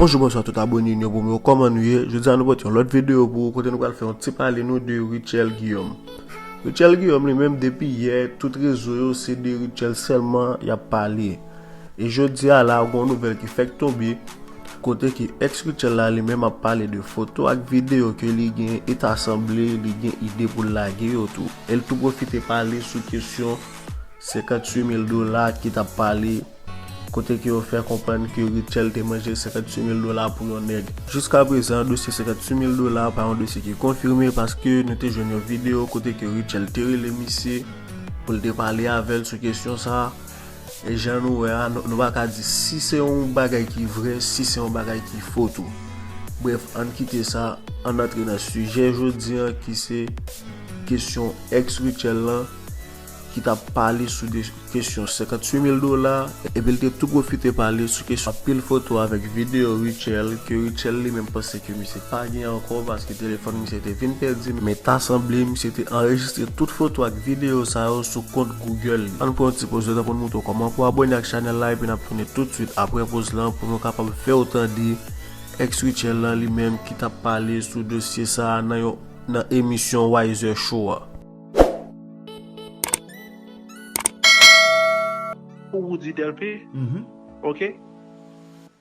Bonjou bonswa tout abone nou yo pou mwen koman nou ye Jodi a nou pot yon lot video pou ou kote nou pral fè yon ti pale nou de Rutshelle Guillaume Rutshelle Guillaume li menm depi yè tout rezo yo se de Rutshelle selman yap pale E jodi a la gon nouvèl ki fèk tonbe kote ke ex Rutshelle la li menm ap pale de foto ak video ke li gen e ta sanble li gen ide pou l lage yo tou. E l tou pwofite pale sou kesyon 58 mil dola ki t ap pale kote ke yo fè konprann ke Rutshelle te manje 58 mil dola pou yon nèg. Jiska prezan dosye 58 mil dola pa yon dosye ki konfime paske nou te jwenn yon video kote ke Rutshelle te rele misye pou l te pale avè l sou kesyon sa. E jan nou wè a, nou pa ka di si se yon bagay ki vrè, si se yon bagay ki fo tou. Brèf, ann kite sa, ann antre nan sijè jodi an ki se kesyon ex Rutshelle lan ki t ap pale sou de kesyon 58 mil dola epi l te tou pwofite pale sou kesyon anpil foto avèk videyo Rutshelle ke Rutshelle li menm panse ke misye Pa gen ankò paske telefòn misye te vin pèdi men ta sanble misye te anrejistre tout foto ak videyo sa yo sou kont Google li. Ann pran yon ti poz letan poun moutre w kòman pou abòne ak chanèl la epi nap tounen tout swit aprè poz lan pou nou kapab fèw tande Ex Rutshelle lan li menm ki tap pale sou dosye sa nan yon nan emisyon Wiser Show a. Pou Roody Delpé ok.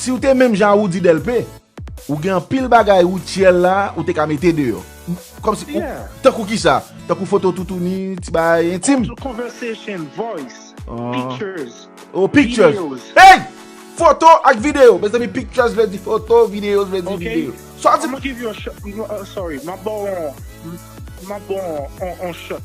Siw te menm jan a Roody Delpé ou gen anpil bagay Rutshelle la ou te ka mete deyò Kòmsi ou Tankou kisa Tankou foto toutouni ti bagay entim Audio conversation voice Pictures Oh pictures Videos Hey! Foto ak videyo Mezanmi pictures vle di foto videos vle di videyo Sa w di I'ma give you a shot Sorry Map baw on Map baw on shot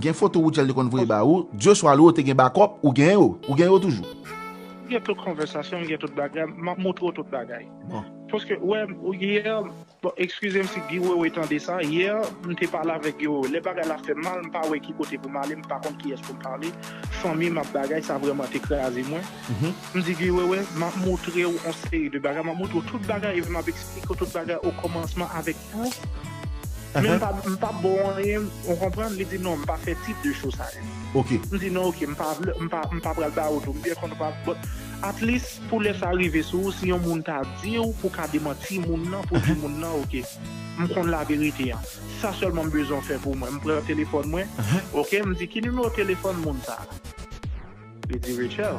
Gen foto Rutshelle te konn voye ba ou, Dieu soit loué ou te gen bakòp, ou gen yo, ou gen yo toujou? M gen tout konvèsasyon, m gen tout bagay, m ap montre w tout bagay. Paske ou wè, yè, bon ekskize m si Guy Wewe tande sa, yè m te pale avèk Guy Wewe, lè bagay la fè m mal, m pa wè ki kote pou m ale, m pa konn kiyès pou m pale, fanmi m ap bagay, sa vrèman te kraze mwen. M di Guy Wewe, m ap montre w yon seri de bagay, m ap montre w tout bagay, m ap eksplike w tout bagay okòmansman avèk. Men m pa bo anyen, ou konprann, li di non m pa fè tip de show sa yo. Ok. M di non ok, m pa vle, m pa, m pa pral ba ou tou, m byen konn ou pa, but at least pou lè sa rive sou ou si yon moun ta di ou pou ka demanti moun nan pou di moun nan ok m konn la verite an. Sa sèlman m bezwen w fè pou mwen. M pran telefòn mwen, ok, m di ki nimewo telefòn moun sa a? Li di Rechèl,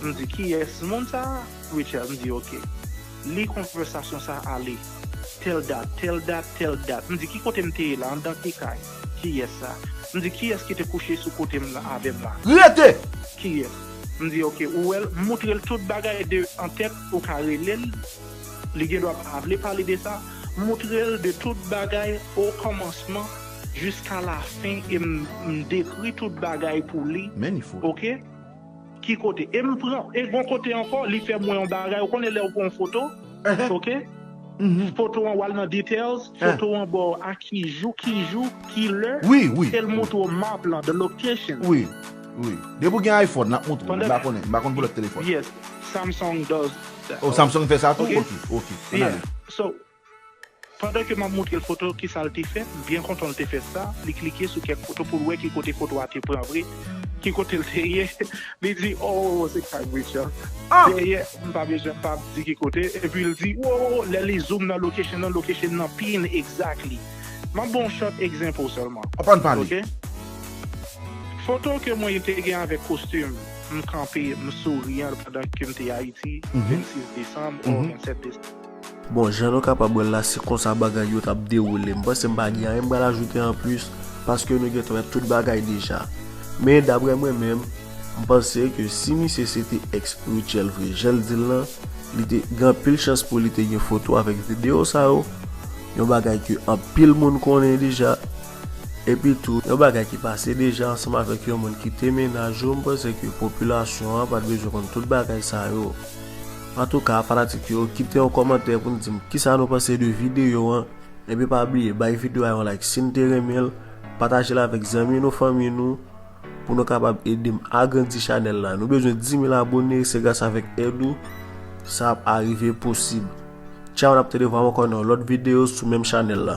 m di kiyès moun sa a? Rechèl, m di ok. Li konvèsasyon sa a ale. Tèl dat, tèl dat, tèl dat. M di ki kote m te ye la, anndan ki kay? Kiyès sa? M di kiyès ki te kouche sou kote m la avè m la? Rete! Kiyès? M di ok, ou wè l? M moutre l tout bagay de an tèt, ou ka rele l, li gendwa pa vle pale de sa. M moutre l de tout bagay o kòmansman. Jiska la fin e m dekri tout bagay pou li ok ki kote e m pran e gon kote ankò li fèm wè yon bagay ou konnen lèw pran yon foto ok foto an wal nan details foto an baw a ki jou ki jou ki lè el moutre w map lan the location Depi w gen iPhone lap moutre w m pa konn pou lòt telefòn Samsung does that ok ok an ale. Pandan ke m ap montre l foto kisa l te fè, m byen kontan l te fè sa, li klike sou kèk foto pou l wè ki kote foto a te pran vre, ki kote l te ye, li di oo se kay Rachel dèyè, m pa bezwen m pa di ki kote, epi l di oo lè li zoom nan location nan, location nan pin exactly. M ap ban w short example sèlman ok. Foto ke mwen te gen avèk kostim, m kanpe, m souriyan pandan ke m te Ayiti 26 desanm or 27 desanm. Bon jan nou kapab wèl la se konsa bagay yo tap dewoule m panse m pa gen anyen m pral ajoute anplis paske nou gentan wè tout bagay deja men daprè mwen menm m panse ke si misye se te ex Rutshelle vre janl dil lan li te gen anpil chans pou li te gen foto avèk video sa yo yon bagay ke anpil moun konnen deja epi tou yon bagay ki pase deja ansanm avèk yon moun ki te mennaj ou m panse ke popilasyon an pat bezwen konn tout bagay sa yo. Antouka fanatik yo kite yon kòmantè pou n dim kisa nou panse de videyo an epi pa bliye bay videyo a yon like sin te renmen l patajel avèk zanmi nou fanmi nou pou nou kapab edem agrandi chanèl la nou bezwen 10000 abone se gras avèk èd ou sa ap arive posib tchaw nap tande vwam ankò nan yon lòt videyo sou menm chanèl la.